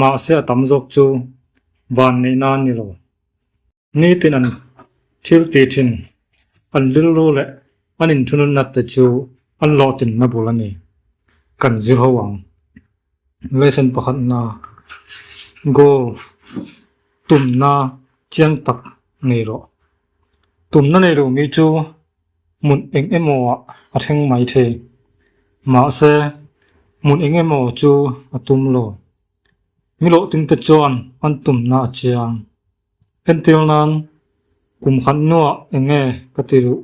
Mahse a tam zawk chu van neih nan ni lo. Nitin an thil ti thin, an rilru leh an inthununna te chu an lawhtinna bul a ni. Kan zir ho ang. Lesson pakhat na, Goal tumna chiang tak nei rawh. Tumna nei loh mi chu. Hmun eng emawah a thleng mai thei. Mahse, hmun eng emaw chu a tum lo. Mi lohtingte chuan an tumna a chiang. Entir nan, kum khan nuah enge ka ti ruh?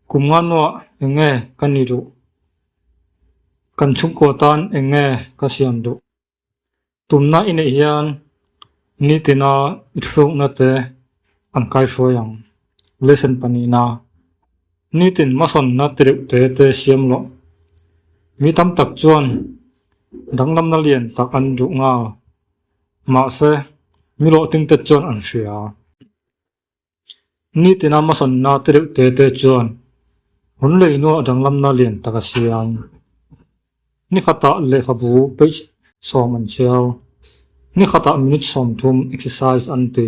Kum nga nuah enge ka ni ruh? Kan chhungkaw tan enge ka siam ruh? Tumna i neih hian nitina hrukna te an kaihruai ang. Lesson panihna, Nitin hmasawnna tireuh te te siam loh. Mi tam tak chuan danglamna lian tak an duh nghal, mahse mi lawhtingte chuan an hria. Nitina masanna ti deuh te te chuan hun lei nuaha danglamna lian tak a siam. Ni khatah lehkhabu page sawm an chhiau, ni khatah minute sawmthum exercise an ti,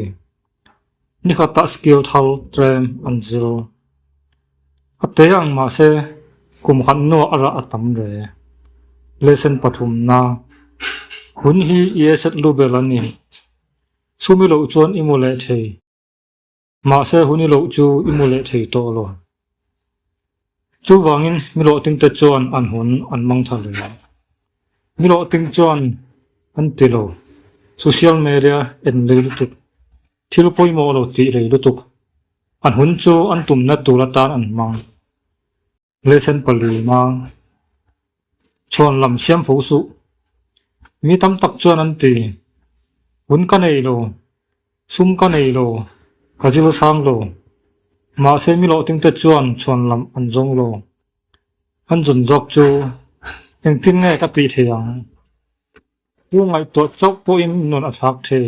ni khatah skill tho trem an zir. A te ang mah se kum khat nuaha a rah a tam hle. Lesson pathumna, hun hi i e set lu ber an ni. Chhum i loh chuan i mu leh thei. Mahse hun i loh chu i mu leh thei tawh lo. Chuvangin milawhting te chuan an hun an mang tha hle lo. Milawhting chuan an ti lo, social media en lei lutuk, thil pawimawh lo tih lei lutuk, an hun chu an tumna tur atan an hmang. Lesson pali ina chhuan lam siam fo suh. Mi tam tak chuan an ti, hun ka nei lo, sum ka nei lo, ka zil sang lo. Mahse mi lohting te chuan chhuan lam an zawng lo. An zun zawk chu engtin nge ka tih thei ang? Chu ngaihtuah chauh pawhin in rawn a thlak thei.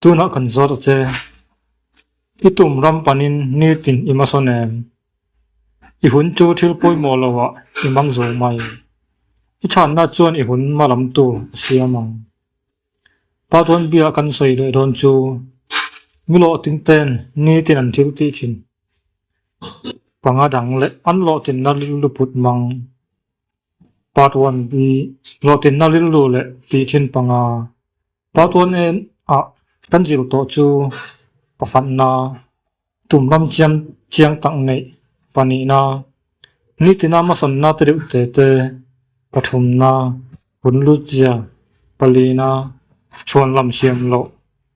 Tunah kan zawt a che. I tum ram panin nitin i masawn em? I hun chu thil pawimawh lohah i mang zo mai. I chhanna chuan i hun hma lamtu a si a mang. Pa Tuanbia kan sawi leh dawn chu mi lawhtin ten nitin an thil tih thin panga dang leh an lawhtinna lu put mang. Part one i hlawhtlinna rilru leh tihthin panga Part one a ah kan zir tawh chu pakhatna tum ram chiam chiang tak neih panihna nitina hmasawnna te reuh te te pathumna hunluchia palina thluan lam siam loh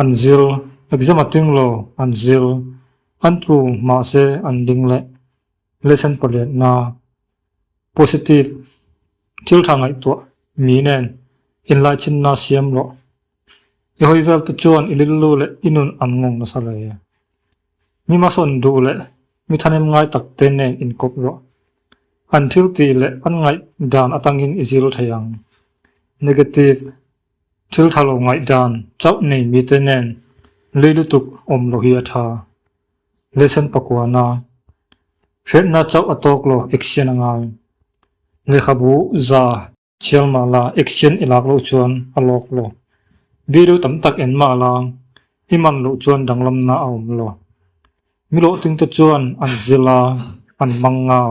An zir, exam a tling lo an zir, an tlu mahse an ding leh. Lesson paliatna, Positive, Thil tha ngaihtuah mi nen inlaichinna siam rawh. I hawi vel te chuan i lillu leh i nun an ngawng nasa le. Mi masawn duh leh mi thanem ngai tak te nen inkawp rawh. An thil tih leh an ngaih dan atangin i zir thei ang. Negative, Thil tha lo ngaih dan chauh nei mite nen lei lutuk awm lo hi a tha. Lesson pakuana, Hriatna chauh a tawk lo action a ngai. Lehkhabu za chhial mah la action i lak loh chuan a lawk lo. Video tam tak en mah la i man loh chuan danglamna a awm lo. Mihlawhtingte chuan an zil a, an mang ngau.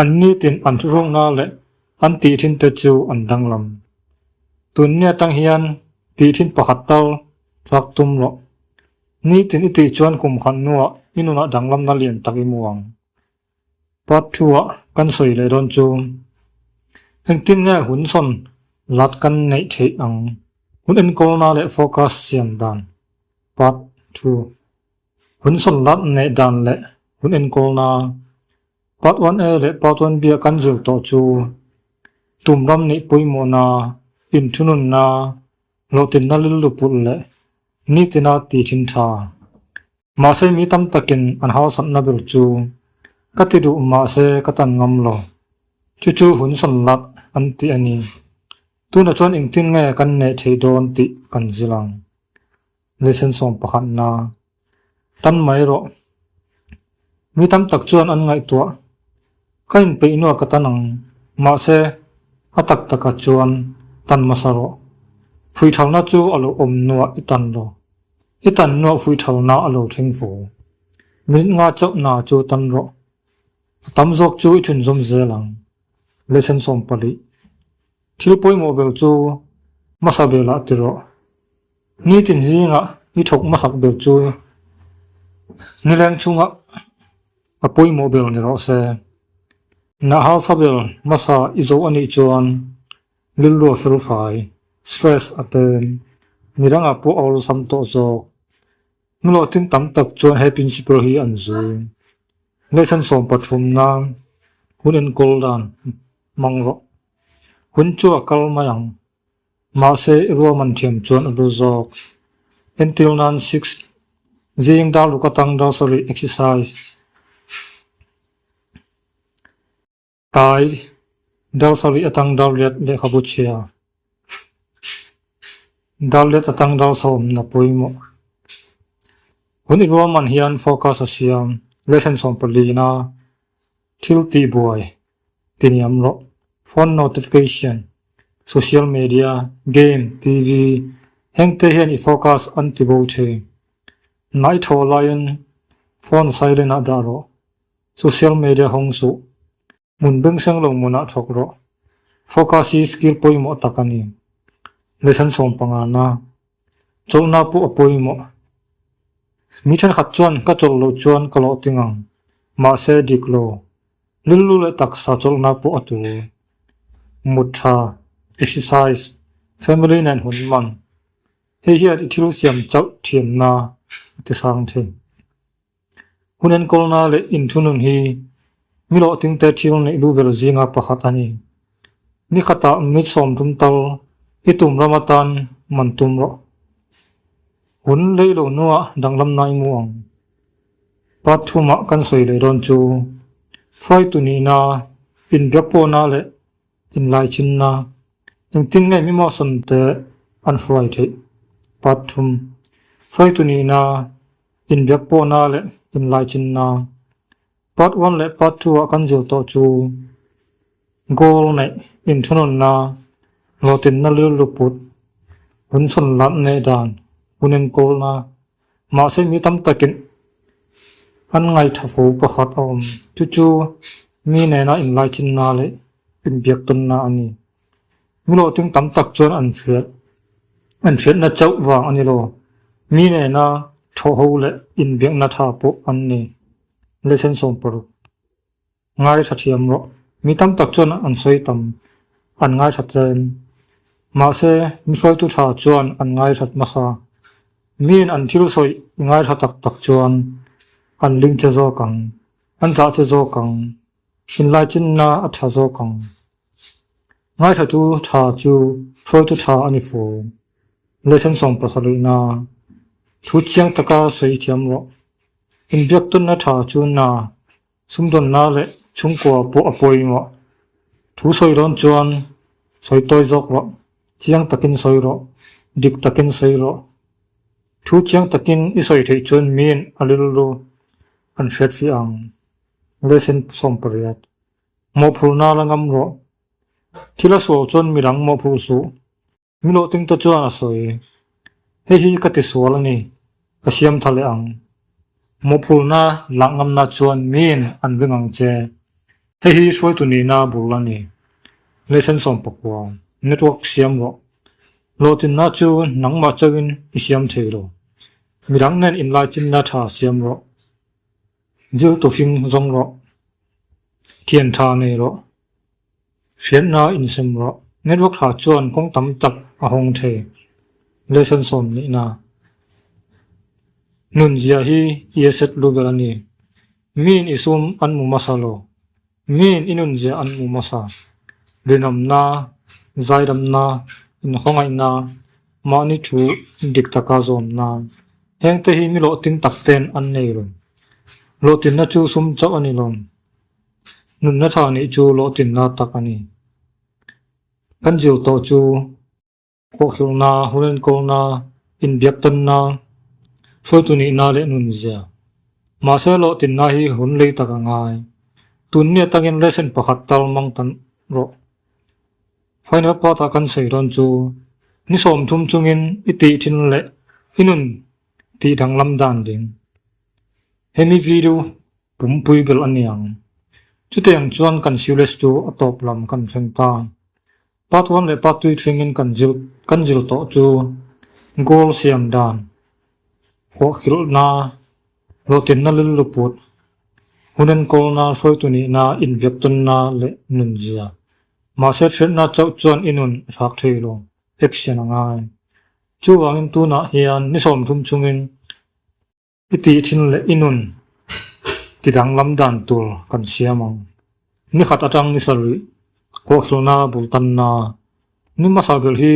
An nitin an hruhna leh an tihthin te chu an danglam. Tun nge tang hian tihthin pakhat tal chhuak tum rawh. Nitin i tih chuan kum khan hnuah i nunah danglamna lian tak i mu ang. Part two-ah kan sawi leh dawn chu. Engtin nge hun sawn lat kan neih theih ang? Hun enkawlna leh focus siam dan. Part two, Hun sawn lat neih dan leh hun enkawlna. Part one A leh Part one B a kan zir tawh chu tum ram nih pawimawhna, inthununna, hlawhtlinna lil lupulh leh nitina tih thin tha. Mahse mi tam takin an harsatna ber chu ka ti duh mahse ka tan ngam lo, chu chu hun sawn lah an tih a ni. Tunah chuan engtin nge kan neih theih dawn tih kan zil ang. Lesson sawm pakhat na tan mai rawh. Mi tam tak chuan an ngaihtuah ka inpeih nuaih ka tan ang mahse a tak taka chuan tan hmasa rawh. Fuihthona chu a lo awm nuaih i tan lo. I tan nuaih fuihthona a lo thleng fo. Minute nga chauh na chu tan rawh. A tam zawk chu i thinzawm zel ang. Lesson sawm pali. Thil pawimawh ber chu hmasa belah ti rawh. Nitin zingah i thawk hmasak ber chu nileng chungah a pawimawh ber ni rawh se. Nâ harsa ber hmasa i zoh anih chuan rilru a fel fai, stress a tem, nirangah pawh a awlsam tawh zawk. Hnuloh tin tam tak chuan he principle hi an zui. Lesson sawm pathumna hun enkawl dan hmang rawh. Hun chu a kal mai ang. Mahse i ruam an thiam chuan a lu zawk. Entir nan six zing dar luk atang dar sorry exercise kai dar sorry atang dar let lehkhabu chhia dar let atang dar sawm na pawimawh. Hun i ruam an hian focus a siam lesson sawmpali ina Thil tih buai, tiniam rawh, phone notification, social media, game, TV, hengte hian i focus an ti bo thei. Nai i thaw laiin phone silent ah dah rawh, social media hawng suh, hmun bengseng lo hmunah thawk rawh. Focus hi skill pawimawh tak a ni. Lesson sawm panga na. Chawlhna pawh a pawimawh. Mi thenkhat chuan ka chawlh loh chuan ka lawh tih ngang. Mahse dik law, rilru leh taksa chawlhna pawh a tul. Mut tha, exercise, family nen hun man, hei hian i thil siam chauh thiamna a tisang thei. Hun en kawlna leh inthunun hi mi lawhtinte thil neih lu ber zinga pakhat a ni. Ni khata mi sawm tum tal i tum ram atan man tum rawh. Hun lei lo nua danglam na i mu ang. Part thumah kan sawi leh dawn chu hruaitu nihna, inbia pawna leh inlaichinna engtin nge mi mawhsawmte an hruai theih? Part thum, Hruaitu nihna. Inbiak pawhna leh inlaichinna. Part one leh part two ah kan zir tawh chu goal neih inthununna, hlawhtlinna rilru put, hun chhawn lalh neih dan, hun enkawlna, mahse mi tam takin an ngaitha fo pakhat a awm chu chu mi nena inlaichinna leh inbiak tawnna a ni. Muloting tam tak chuan an hriat, an hriatna chauh vang a ni lo. Mi nena thoho leh inbiakna tha pawh an ni. Lesson sawm paruk. Ngai hrathiam rawh. Mi tam tak chuan an sawi tam, an ngai hrat rem. Mahse, mihrualtu tha chuan an ngai hrat hmasa. Miin an thil sawi i ngai hra tak tak chuan an ling che zawk ang, an zah che zawk ang, hrinlai chinna a tha zawk ang Ngaithatu tha chu hruaitu tha a ni fo. Lesson sawm pasaluihna, Thu chiang taka sawi thiam rawh. Inbiak tawnna tha chu na sumdawnna leh chhungkua pawh a pawi maw? Thu sawi dawn chuan sawi tawi zawk rawh. Chiang takin sawi rawh. Dik takin sawi rawh. Thu chiang takin i sawi theih chuan miin a rilru an hriat fiah ang. Lesson sawm pariat. Mawhphurhna la ngam rawh. Thil a sual chuan midang mawhphurh suh. Milotingte chuan a sawi, Hei hi ka tisual a ni, ka siam tha leh ang. Mawhphurhna lah ngamna chuan miin an ring ang che. Hei hi hruaitu nihna bul a ni. Lesson sawm pakua, Network siam rawh. Hlawhtinna chu nangmah chauhin i siam thei lo. Midang nen inlaichinna tha siam rawh. Zirtu fing zawng rawh, thian tha nei rawh, hriatna insem rawh. Network thla chuan kawng tam tak a hawng thei. Lesson sawm nihna. Nun zia hi ESET Luber a ni. Miin i sum an mu masa lo. Ngen i nun zia an mum a sa? Rinawmna, zaidamna, inhawngaihna, mahni thu dik taka zawmna, heng te hi mi hlawhtling tak ten an nei lo. Hlawhtlinna chu sum chauh a ni lo. Nunna tha nih chu hlawhtlinna tak a ni. Kan zir tawh chu. Khawhhlukna, hunenkawngna, inbiak tawnna, hruaitu nihna leh nunzia. Mahse loh tinna hi hun lei tak a ngai. Tun miah takin lesson pakhat tal mang ta rawh. Final part-ah kan sawi dawn chu ni sawm thum chungin i tih thin leh i nun tih danglam dan ding. Hemi video pumpui ber a niang. Chutiang chuan kan syllabus chu a tawp lam kan thleng ta. Part one leh part two thingin kan zir kan zir tawh chu goal siam dan huahkilhna, hlawhtlinna lil luput, hun enkawlna, hruaitu nihna, inbiak tunna leh nun zia. Mahse hriatna chauh chuan i nun hrak thei lo, action a ngai. Chuvangin tunah hian ni sawm hrum chungin I tih thin leh i nun ti dang lam dan tur kan siam ang. Ni khat atang ni sarih, kawhhlawhna, bul tanna, ni hmasa ber hi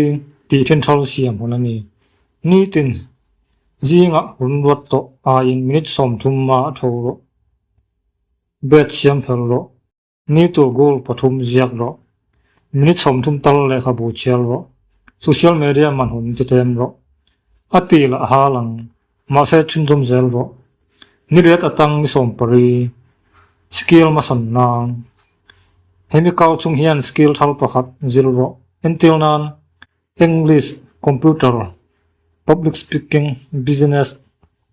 tih thin thar siam hun a ni. Nitin, zingah hun ruat tawh aiin minute sawm thum a tho rawh, bet siam fel rawh. Ni tur goal pathum ziak rawh. Minute sawmthum tal lehkhabu chhial rawh. Social media manhun ti tem rawh. A tih lah a hal ang. Mahse chhunzawm zel rawh. Ni let atang ni sawm pari. Skill masan nang. Hemi kau chung hian skill thal pakhat zir rawh. Entir nan English, Computer, Public Speaking, Business,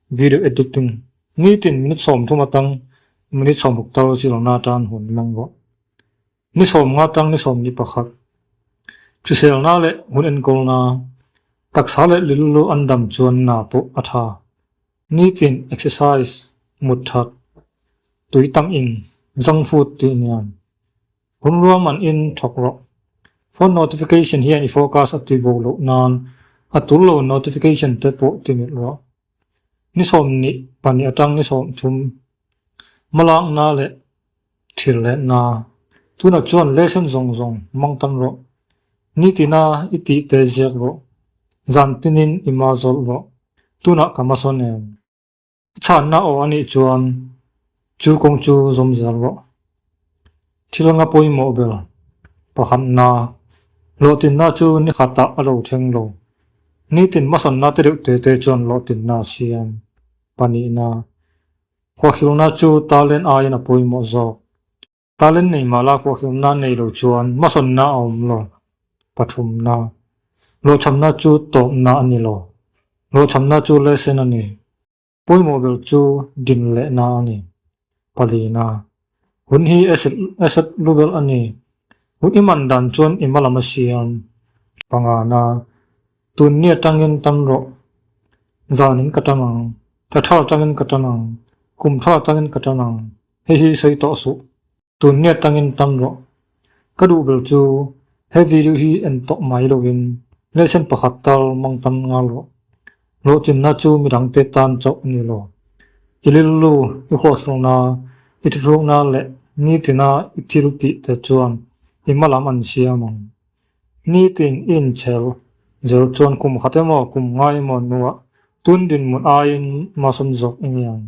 Video Editing. Nitin min i chhawm thum atang, min i chhawm ruk ta rawh si lo na tan hun ni mang rawh. Ni chhawm nga tang ni chhawm ni pakhat. Thrisel na leh hun enkawl na, taksa leh lilulu an dam chuan na pawh a tha. Nitin exercise, mut that, tui tam in, junk food tih nen, hun ruam an in thawk rawh. Phone notification hian i focus a ti bawk loh nan, a tul lo notification te pawh ti melh rawh. Ni sawm nih pahnih atang ni sawm thum hmalakna leh thir lenna. Tunah chuan lesson zawng zawng hmang tan rawh. Ni tina i tih tel ziak rawh. Zan tinin i ma zawlh rawh. Tunah ka hmasaw nen. I chhanna aw anih chuan Chu kawng chu zawm zel rawh. Thilanga pawimawh ber pahkhamna hlawhtinna chu ni khatah a lo thleng lo. Nitin hmasawnna te deuh teh te chuan hlawhtinna a siam. Panihna, huahhilna chu talent aiin a pawimawh zawk. Talent nei mah la huahhilna a nei lo chuan hmasawnna a awm lo. Pathumna, hlawhchhamna chu tawpna a ni lo. Hlawhchhamna chu lesson a ni. Pawimawh ber chu din lehna a ni, palina. Hun hi asset, asset, luvel a ni. Hun i man dan chuan i hmalam a siam. Pangana. Tun nge tangin tam rawh. Zanin ka tan ang. Tha tha tangin ka tan ang. Kum tha tangin ka tan ang. Hei hi sawi tawh suh. Tun nge tangin tam rawh. Ka duh ber chu he video hi en tawh mai lovin lesson pakhat tal mang tan nghal rawh. Hlawhtlinna chu midangte tan chauh a ni lo. I lirlu, i huathlawhna, i thihrukna leh nitina i thil tih te chuan i hma lam an siam ang. Nitin i inchhel zel chuan kum khat emaw kum ngai emaw hnuah tun dinhmun aiin mahsawm zawk enge ang?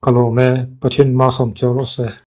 Ka lawm e, Pathian hma sawm chiar rawh se.